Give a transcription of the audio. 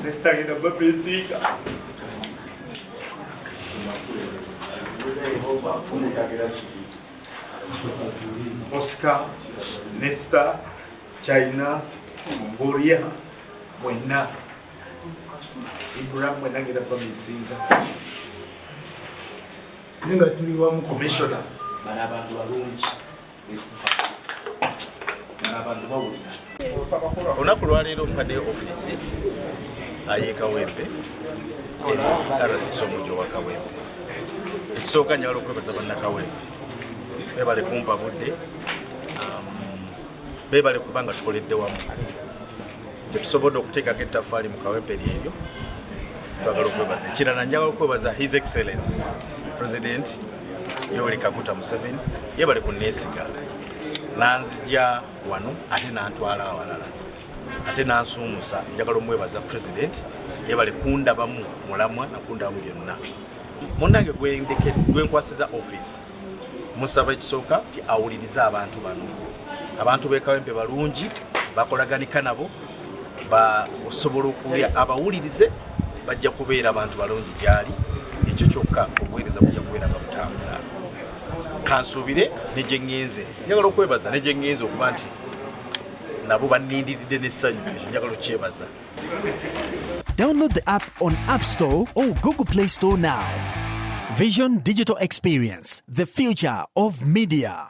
Nestagira babesika Oscar, Nesta, China, Mongolia, Buena. Ibrahim Buena gira babesika. Ninga tuli wa mu commissioner. Bana abantu balungi. olunaku lwaleero mpade ofiisi ayekawempe rcc omujo wa kawempe ekisooka nyala okwebaza bannakawempe bebale kumpa budde um, bebale kuba nga tukoledde wamu tetusobodde okuteekako ettafaali mu kawempe lyeryo twagala okwebaza ekirala njagala okwebaza his excellence president Yoweri Kaguta Museveni yebale ku neesiga nanzija wano ate nantwala awalala ate nansuumusa njagala omwebaza pulezidenti yebale kundabamu mulamwa nakundabamu byonna munnange gwenkwasiza ofiisi musaba ekisooka ti awulirize abantu bano abantu bekawempe balungi bakolaganika nabo osobola okuwulira abawulirize bajja kubeera abantu balungi gyali ekyo kyokka obuweereza bujja kubeera nga butambula kansuubire negyengenze njagala okwebaza negyengenze okuba nti nabo banindiridde n'essanyu ekyo njagala okukyebaza Download the app on App Store or Google Play Store now. Vision Digital Experience, the future of media.